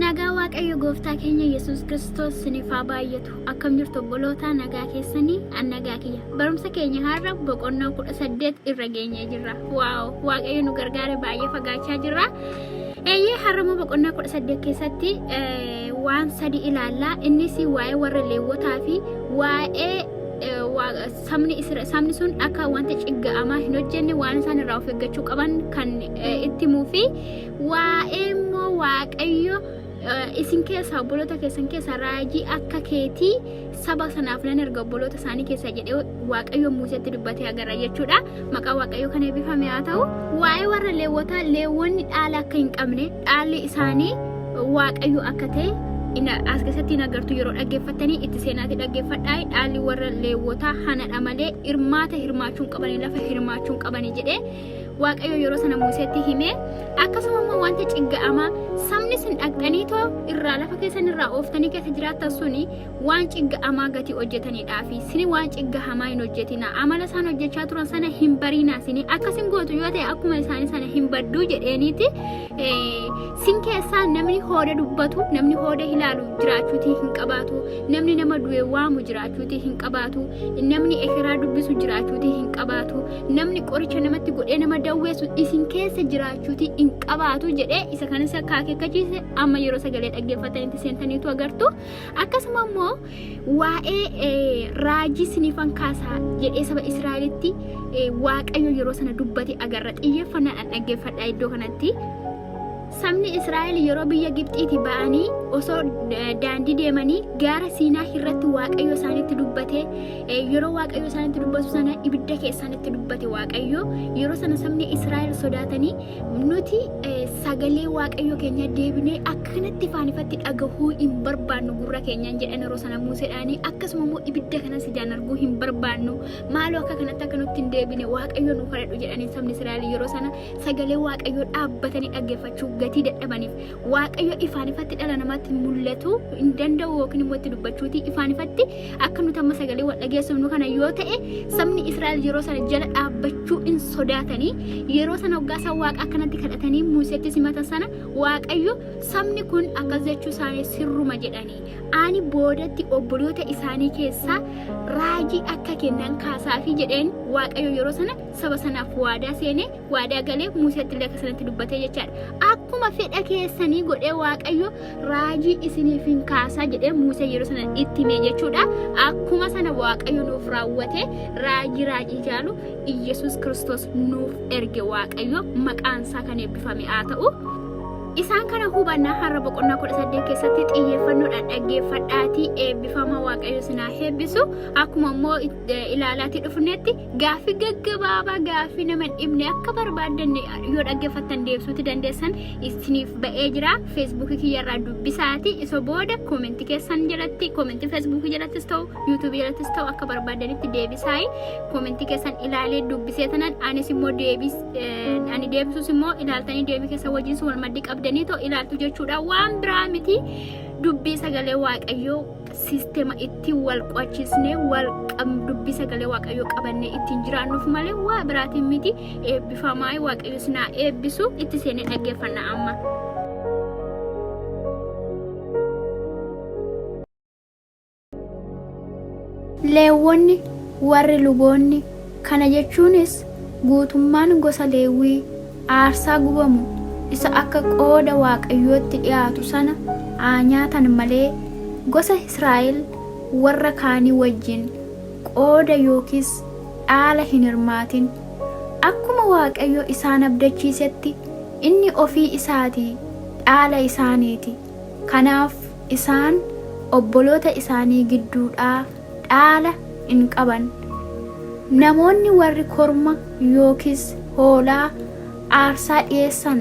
Nagaa Waaqayyo Gooftaa keenya Yesuus Kiristoos siniif haa baay'atu. Akkam jirtu obbolootaa nagaa keessanii an nagaa kiyya. Barumsa keenya har'a boqonnaa kudha saddeet irra geenyee jirra. Waaw Waaqayyo nu gargaare baay'ee fagaachaa jirra. Eeyyee har'ammoo boqonnaa kudha saddeet keessatti eh, waan sadi ilaalla. Innis waa'ee warra leewwotaa fi waa'ee eh, waaqa- sabni Isra- sabni sun akka wanta cigga'amaa hin hojjenne waan isaan irraa of eeggachuu qaban kan eh, itti himuu fi waa'ee immoo waaqayyo eh, isin keessaa obboloota keessan keessaa raajii akka keetii saba sanaaf nan erga obboloota isaanii keessaa jedhee waaqayyo muuseetti dubbatee agarra jechuudha. Maqaa Waaqayyoo kan eebbifame haa ta'u. Waa'ee warra leewwotaa leewwonni dhaala akka hin qabne dhaalli isaanii Waaqayyo akka ta'e ina- as keessatti hin agartu yeroo dhaggeeffattanii itti seenaatti dhaggeeffadhaa dhaalli warra leewwotaa hanadha malee hirmaata hirmaachuu hin qabanii lafa hirmaachuu hin qabanii jedhee Waaqayyo yeroo sana Museetti himee akkasuma immoo wanta cigga'amaa sabni sin dhaqxanii too irraa lafa keessan irraa ooftanii keessa jiraattan suni waan cigga amaa gati hojjetanidhaa fi sini waan cigga hamaa hin hojjetina amala isaan hojjechaa turan sana hin bariinaa sini akkas hin gootu yoo ta'e akkuma isaanii sana hin badduu jedheeniiti sin keessaa namni hooda dubbatu namni hooda ilaalu jiraachuutii hin qabaatu namni nama du'e waamu jiraachuutii hin qabaatu namni ekeraa dubbisu jiraachuutii hin qabaatu namni qoricha namatti godhee nama dawweessu isin keessa jiraachuutii hin qabaatu jedhee isa kanas akka akeekkachiise amma yeroo sagalee dhaggeeffatanitti seentaniitu agartu. akkasuma immoo waa'ee raajii siniifan kaasaa jedhee saba Israa'elitti waaqayyo yeroo sana dubbate agarra xiyyeeffannaadhaan dhaggeeffadha iddoo kanatti. Sabni Israa'el yeroo biyya Gibxiiti ba'anii osoo daandii deemanii gaara Siinaa irratti waaqayyo isaanitti dubbate yeroo waaqayyo isaanitti dubbatu sana ibidda keessaanitti dubbate waaqayyo yeroo sana sabni Israa'el sodaatanii nuti sagalee waaqayyo keenya deebinee akkanatti faanifatti dhagahuu hin barbaannu gurra keenyaan jedhan yeroo sana muuseedhaanii akkasuma immoo ibidda kanas ijaan arguu hin barbaannu maaloo akka kanatti akka nutti hin deebine waaqayyo nu kadhadhu jedhanii sabni Israa'el yeroo sana sagalee waaqayyoo dhaabbatanii dhaggeeffachuu gatii dadhabaniif Waaqayyo ifaan ifatti dhala namaatti mul'atu hin danda'u yookiin immoo itti dubbachuuti ifaan ifatti akka nuti amma sagalee wal dhageessifnu kana yoo ta'e sabni Israa'el yeroo sana jala dhaabbachuu hin sodaatanii yeroo sana hoggaa isaan waaqa akkanatti kadhatanii Muuseetti simata sana Waaqayyo sabni kun akkas jechuu isaanii sirruma jedhanii ani boodatti obboloota isaanii keessaa raajii akka kennan kaasaafi jedheen Waaqayyo yeroo sana saba sanaaf waadaa seenee waadaa galee Muuseetti illee akka sanatti dubbatee jechaadha. Akkuma fedha keessanii godhee Waaqayyo raajii isiniif hin kaasaa jedhee Muusee yeroo sana itti himee jechuudha. Akkuma sana Waaqayyo nuuf raawwatee raajii raajii jaalu Iyyasuus Kiristoos nuuf erge Waaqayyo maqaan isaa kan eebbifame haa ta'u. Isaan kana hubannaa har'a boqonnaa kudha saddeet keessatti xiyyeeffannoodhaan dhaggeeffadhaatii eebbifama Waaqayyo sinaa eebbisu akkuma immoo ilaalaatii dhufnetti Gaaffii gaggabaabaa gaaffii nama hin dhibne akka barbaaddan yoo dhaggeeffattan deebisuutti dandeessan isiniif ba'ee jira. Feesbuukii kiyyarraa dubbisaati. Isa booda koomentii keessan jalatti koomentii feesbuukii jalattis ta'u yuutuubii jalattis ta'u akka barbaaddanitti deebisaayi. Koomentii keessan ilaalee dubbisee tanan anis immoo deebis ani deebisuus immoo ilaaltanii deebii keessa wajjin wal maddii qabdanii ta'u ilaaltu jechuudha. Waan biraa miti dubbii sagalee waaqayyoo sistema ittiin wal qo'achiisnee wal dubbii sagalee waaqayyoo qabannee ittiin jiraannuuf malee waa biraatiin miti eebbifamaa waaqayyo sinaa eebbisu itti seenee dhaggeeffanna amma. Leewwonni warri luboonni kana jechuunis guutummaan gosa leewwii Aarsaa gubamu isa akka qooda Waaqayyootti dhi'aatu sana haa nyaatan malee, gosa Israa'el warra kaanii wajjin qooda yookiis dhaala hin hirmaatin. Akkuma Waaqayyo isaan abdachiisetti, inni ofii isaatii dhaala isaanii ti, kanaaf isaan obboloota isaanii gidduudhaa dhaala in qaban. Namoonni warri korma yookiis hoolaa aarsaa dhi'eessan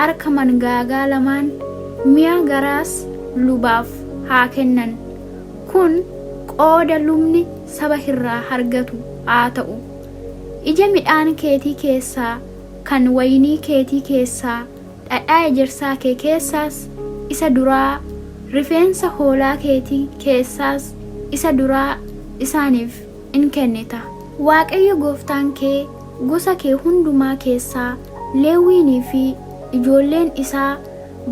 arka mangaagaa lamaan, mi'a garaas lubaaf haa kennan. Kun qooda lubni saba irraa argatu haa ta'u. Ija midhaan keetii keessaa, kan wayinii keetii keessaa, dhadhaa ejersaa kee keessaas isa duraa, rifeensa hoolaa keetii keessaas isa duraa isaaniif in kennita. Waaqayyo gooftaan kee gosa kee hundumaa keessaa Leewwiinii fi ijoolleen isaa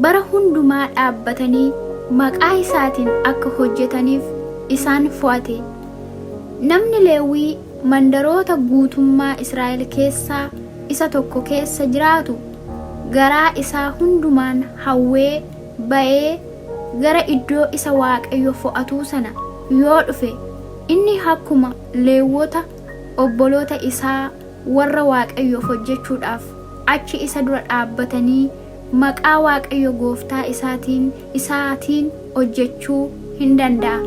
bara hundumaa dhaabbatanii maqaa isaatiin akka hojjetaniif isaan fo'ate. Namni Leewwii mandaroota guutummaa Israa'el keessaa isa tokko keessa jiraatu garaa isaa hundumaan hawwee ba'ee gara iddoo isa Waaqayyo fo'atuu sana yoo dhufe, inni akkuma Leewwota obboloota isaa warra Waaqayyoof hojjechuudhaaf achi isa dura dhaabbatanii maqaa Waaqayyo gooftaa isaatiin, isaatiin hojjechuu hin danda'a.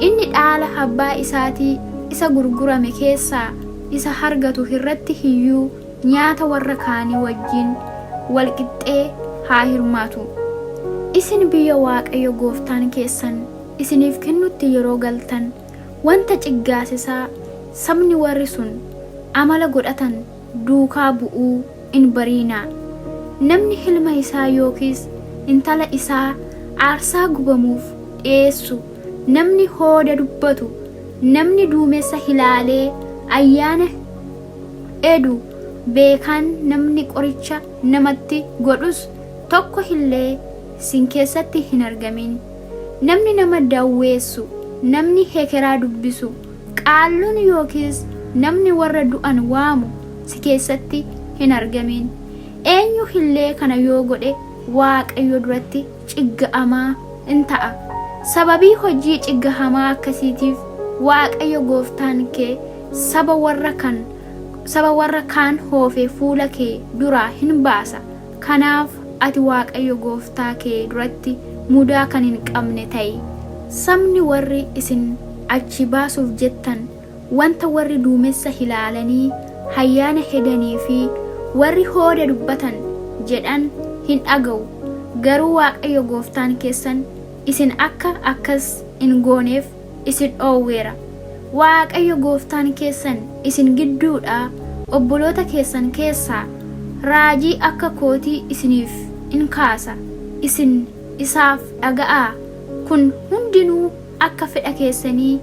Inni dhaala abbaa isaatii isa gurgurame keessaa isa argatu irratti iyyuu nyaata warra kaanii wajjin wal qixxee haa hirmaatu. Isin biyya Waaqayyo gooftaan keessan isiniif kennutti yeroo galtan, wanta ciggaasisaa sabni warri sun amala godhatan, duukaa bu'uu in bariinaa. Namni ilma isaa yookiis intala isaa aarsaa gubamuuf dhi'eessu, namni hooda dubbatu, namni duumessa ilaalee ayyaana edu, beekaan namni qoricha namatti godhus tokko illee isin keessatti hin argamin. Namni nama dawweessu, namni hekeraa dubbisu, Qaalluun yookiis namni warra du'an waamu si keessatti hin argamiin. Eenyu illee kana yoo godhe Waaqayyo duratti cigga'amaa in ta'a. Sababii hojii ciggahamaa akkasiitiif Waaqayyo gooftaan kee saba warra kan saba warra kaan hoofe fuula kee duraa hin baasa. Kanaaf ati Waaqayyo gooftaa kee duratti mudaa kan hin qabne ta'i. Sabni warri isin achii baasuuf jettan wanta warri duumessa hilaalanii hayyaana hedanii fi warri hooda dubbatan jedhan hin dhaga'u, garuu Waaqayyo gooftaan keessan isin akka akkas in gooneef, isin dhoowweera. Waaqayyo gooftaan keessan isin gidduudhaa obboloota keessan keessaa raajii akka kootii isiniif in kaasa, isin isaaf dhaga'aa, kun hundinuu akka fedha keessanii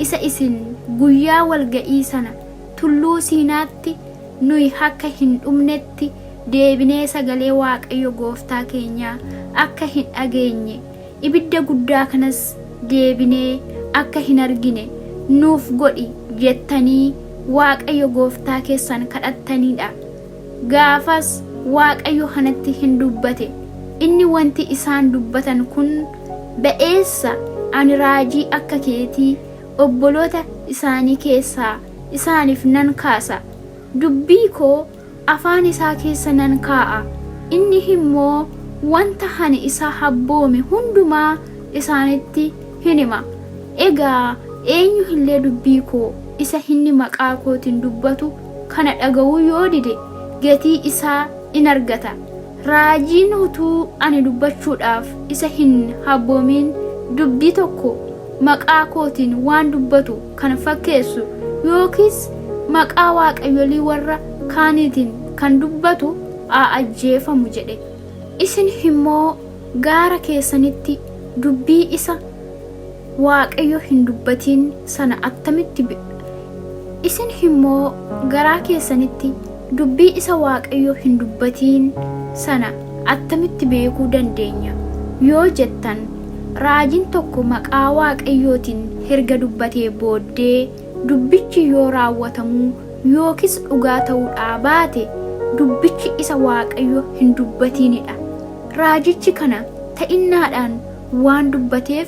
isa isin guyyaa walga'ii sana tulluu Siinaatti nuyi akka hin dhumnetti deebinee sagalee Waaqayyo gooftaa keenyaa akka hin dhageenye, ibidda guddaa kanas deebinee akka hin argine nuuf godhi jettanii Waaqayyo gooftaa keessan kadhattaniidha. Gaafas Waaqayyo kanatti hin dubbate. Inni wanti isaan dubbatan kun ba'eessa ani raajii akka keetii obboloota isaanii keessaa isaaniif nan kaasa. Dubbii koo afaan isaa keessa nan kaa'a, inni immoo wanta ani isaaf abboome hundumaa isaanitti in hima. Egaa eenyu illee dubbii koo isa inni maqaa kootiin dubbatu kana dhaga'uu yoo dide, gatii isaa in argata. Raajiin utuu ani dubbachuudhaaf isa hin habboomiin dubbii tokko maqaa kootiin waan dubbatu kan fakkeessu yookiis maqaa waaqayyolii warra kaaniitiin kan dubbatu haa ajjeefamu jedhe. Isin immoo gaara keessanitti dubbii isa Waaqayyo hin dubbatiin sana attamitti be Isin immoo garaa keessanitti dubbii isa Waaqayyo hin dubbatiin sana attamitti beekuu dandeenya? yoo jettan, raajiin tokko maqaa Waaqayyootiin erga dubbatee booddee dubbichi yoo raawwatamuu yookiis dhugaa ta'uudhaa baate dubbichi isa Waaqayyo hin dubbatiinidha. Raajichi kana ta'innaadhaan waan dubbateef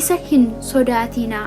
isa hin sodaatinaa.